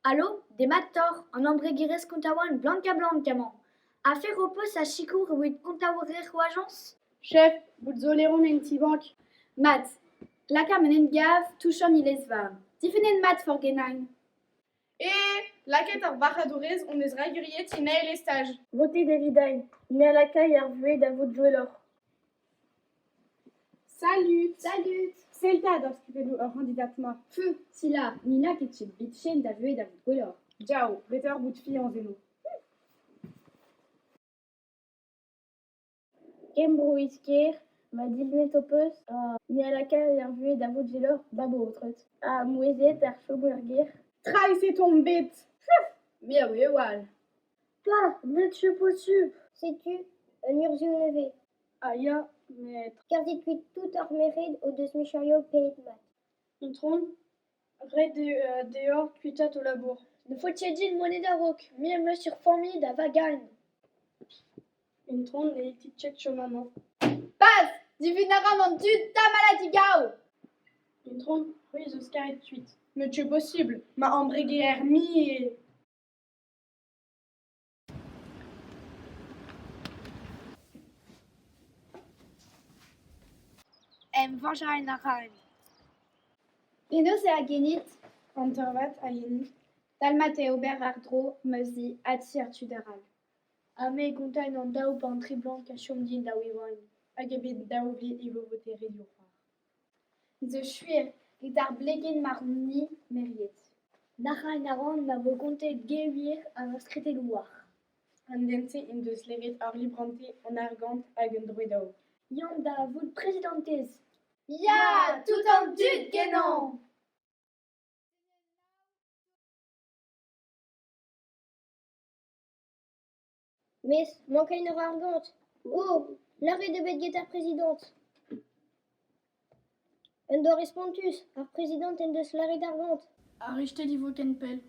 Alo, demat oc'h, an embregerezh kontaouenn Blanca-Blanc emañ. Afer ho peus a sikour evit kontaouer ho ajañs ? Chef, bout zo leron en ti-bank. Mat, lakaomp un hent-gav touch an iliz-varn. Difennet mat forgenain. Ee, lakaet ar varc'hadourez hon eus railhuriet Sinael e staj. Votit evit ail, ne lakay ar vuhez da vout gwelloc'h. Salut, salut! Sell 'ta d'ar skrivelloù ur c'handidat-ma. Pff, Sila, ni n'a ket tud bitchen da vuhez da vout gwelloc'h. Diao, beteoc'h bout fiañs eno. Kembroiz-kêr, ma dilenned ho peus? Me a lakaer er vuhez da vout veloc'h da baotred, ha mouezhiet er choum er gêr. Traezh eo on bet ! Me a ouio all. Pa, netu potu ! Setu un urzhioù nevez. Ah ya, met… Kerzhit kuit tout hor merc'hed o deus micherioù pedet mat. Intron ? Ret eo deoc'h kuitaat ho labour. Ne faotez din monet a-raok. Me am eus ur familh da vagaln. Intron ne it ket chom amañ. Paz! Divun a ran an dud tamallet digaou! Intron, c'hwi zo skaret kuit. Met ce posubl? Ma ambreger-mie eo. Emvañjañ a raen. Penaos eo agenit an deurvad a-hini dalmat eo ober àr-dro ma zi adseurtu d'arall? Ha me gontaen an daou bantr e blank a chom din da evañ hag eo bet dav vit e vo votet ret ho c'hoar. Zo sur, get ar blegenn marv-ni meriet. Nac'hañ a ran ma vo kontet gevier ha ur skritell war. An den-se en deus klevet ar librante, an argant hag an droed-aour. Yann da vout prezidantez. Ya! Tout an dud genomp! Mes mankain a ra ar gañt. O ! lâret eo bet get ar prezidant. Un doare spontus, ar prezidant en deus lâret ar gañt. Ar rechtel e vo ken pell.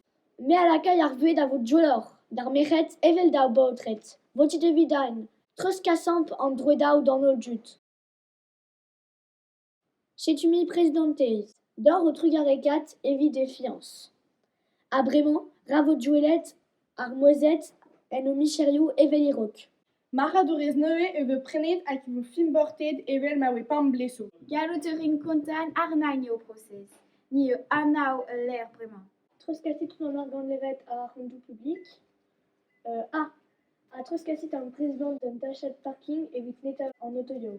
Me a lakay ar vuhez da vo dioloc'h, d'ar merc'hed evel d'ar baotred. Votit evit den, treuzkasamp an droedaoù d'an holl dud. Setu-mp prezidantez, doc'h ho trugarekat evit he fiañs. Ha bremañ, ra vo douellet ar mouezhed en o micherioù evel e-raok. Marc'hadourez neuze e vez prenet hag e vo fimborted evel ma oe pemp blez zo. Gallout a rin kontañ arnaln eo ho prosez. Ni eo anav ul lec'h bremañ. Treuzkasit an argant levet àr an doù publik. Ah ! ha treuzkasit ar brezidant d'an dachad parking evit netañ an otoioù.